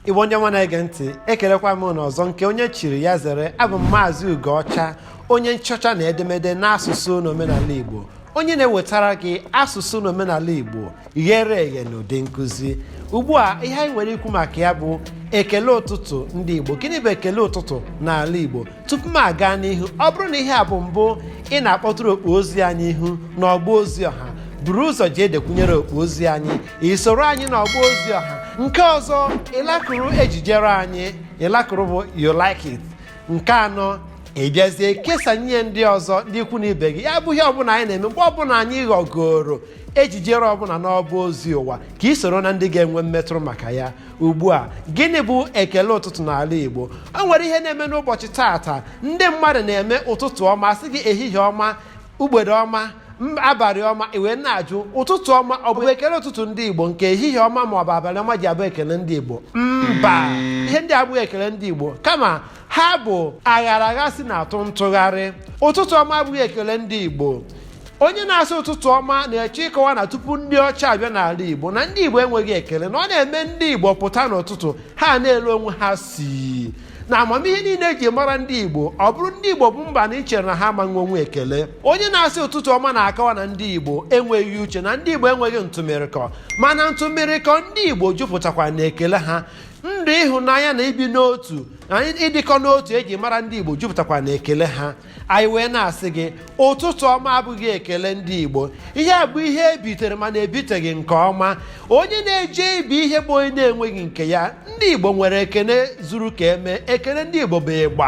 igbo ndị ọma na-ege ntị ekelekwa m na ọzọ nke onye chiri ya zere abụ m maazị ugoọcha onye nchọcha na edemede n'asụsụ na omenala igbo onye na-ewetara gị asụsụ na omenala igbo ghere eghe na ụdị nkụzi ugbu a ihe anyị nwere ikwu maka ya bụ ekele ụtụtụ ndị igbo gịnị bụ ekele ụtụtụ n'ala igbo tupu m aga n'ihu ọ bụrụ na ihe a bụ mbụ ị na-akpọtụrụ okpu ozi anyị ihu n'ọgba ozi ọha buru ụzọ jee dekwunyere okpu ozi anyị isoro anyị n'ọgba ozi ọha nke ọzọ ịlakụrụ ejijere anyị ịlakụrụ bụ you like it nke anọ ị bịazie kesa nye ndị ọzọ ndị ikwu na ibe gị ya bụ ihe ọbụla anyị na-eme mgbe ọbụla anyị ghọgoro ejijere ọbụla n'ọba ozi ụwa ka ị soro na ndị ga-enwe mmetụrụ maka ya ugbu a gịnị bụ ekele ụtụtụ n'ala igbo o nwere ihe na-eme n'ụbọchị taata ndị mmadụ na-eme ụtụtụ ọma sị gị ehihie ọma ugbede ọma m- abalị ọma ị wee na-ajụ ụtụtụ ọma ọ bụ ekele ụtụtụ ndị igbo nke ehihie ọma ma ọ bụ abalị ọma ji abụ ekele ndị igbo mba ihe ndị a abụghị ekele ndị igbo kama ha bụ aghara agha si na-atụ ntụgharị ụtụtụ ọma abụghị ekele ndị igbo onye na-asị ụtụtụ ọma na-achọ ịkọwa na tupu ndị ọcha abịa n'ala igbo na ndị igbo enweghị ekele na ọ na-eme ndị igbo pụta n'ụtụtụ ha ana-ele onwe ha si na amamihe niile eji mara ndị igbo ọ bụrụ ndị igbo bụ mba na i chere na ha amaghị enwe ekele onye na-asị ụtụtụ ọma na-akọwa na ndị igbo enweghị uche na ndị igbo enweghị ntụmịrịkọ mana ntụmịrịkọ ndị igbo jupụtakwa na ekele ha ndụ ịhụnanya na ibi n'otu na ịdịkọ n'otu eji mara ndị igbo jupụtakwa na ekele ha anyị wee na-asị gị ụtụtụ ọma abụghị ekele ndị igbo ihe a bụ ihe ebitere mana ebiteghị nke ọma onye na-eje ibi ihe bụ onye na-enweghị nke ya ndị igbo nwere ekele zuru ka eme ekele ndị igbo bụ ịgba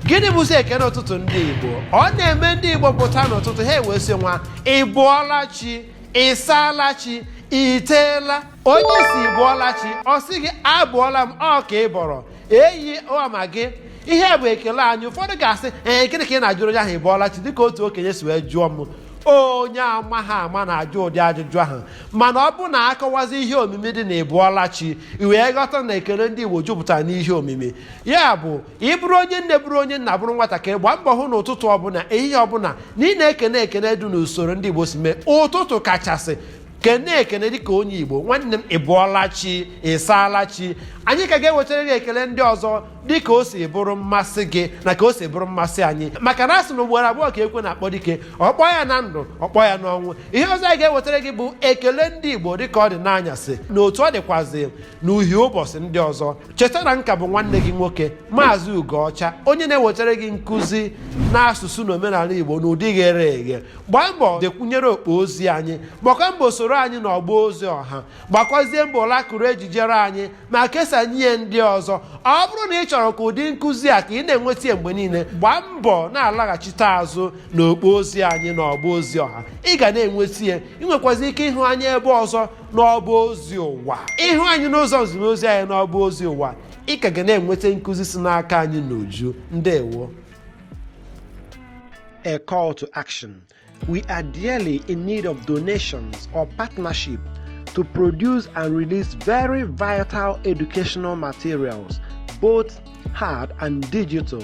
gịnị bụzi ekele ụtụtụ ndị igbo ọ na-eme ndị igbo pụta n'ụtụtụ ha ewee sị nwa ị bọọla chi ị saala chi i teela onye ị sị ị bọọla chi ọ sị gị abọọla m ọ ka ị bọrọ enyi ọma gị ihe a bụ ekele anyị ụfọdụ ga-asị ee gịnị ka ị na-ajụrụ onye ahụ ị bọọla chi dịka otu okenye si wee jụọ m onye ama ha ama na-ajụ ụdị ajụjụ ahụ mana ọ bụrụ na a kọwazie ihe omimi dị na ị bọọla chi i wee ghọta na ekele ndị igbo jupụtara n'ihe omimi ya bụ ị bụrụ onye nne bụrụ onye nna bụrụ nwatakịrị gbaa mbọ hụ na ụtụtụ ọbụla ehihie ọbụla na ị na-ekene ekene dị n'usoro ndị igbo si mee ụtụtụ kachasị kene ekene dịka onye igbo nwanne m ị bọọla chi ị saala chi anyị ka ga-ewetara gị ekele ndị ọzọ dịka o si bụrụ mmasị gị na ka o si bụrụ mmasị anyị maka na a sị na ugboro abụọ ka ekwe na-akpọ dike ọ kpọọ ya na ndụ ọ kpọọ ya n'ọnwụ ihe ọzọ anyị ga-ewetara gị bụ ekele ndị igbo dịka ọ dị n'anyasị na otu ọ dịkwazi n'uhie ụbọchị ndị ọzọ cheta na nka bụ nwanne gị nwoke maazị ugoọcha onye na-ewetara gị nkụzi n'asụsụ na omenala igbo n'ụdị ghere eghe gbaa mbọ dekwunyere okpo ozi anyị gbakwa mbọ soro anyị na ọgba ozi ọha gbakwazie mbọ lakụrụ ejijere anyị ma kesanye ndị ọzọ ọ bụrụ na ị chọrọ ka ụdị nkụzi a ka ị na-enweta ya mgbe niile gbaa mbọ na-alaghachite azụ na okpo ozi anyị na ọgba ozi ọha ị ga na-enweta ya ị nwekwazi ike ịhụ anyị ebe ọzọ n'ọba ozi ụwa ị hụ anyị n'ụzọ nzimozi anyị n'ọba ozi ụwa ị ka ga na-enweta nkụzi si n'aka anyị n'uju ndewo a call to action. We are dearly in need of donations or partnership to produce and release very vital educational materials, both hard and digital,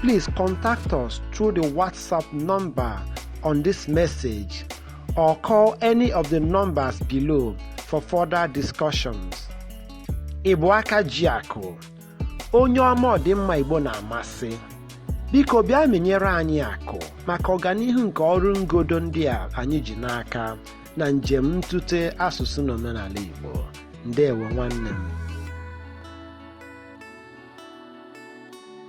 please contact us through the WhatsApp number on this message or call any of the numbers below for further discussions. Ị bụ aka ji akụ, onye ọma ọdịmma Igbo na-amasị. Biko bịa menyere anyị akụ maka ọganihu nke ọrụ ngodo ndị a anyị ji n'aka na njem ntute asụsụ na omenala Igbo. Ndewo nwanne m.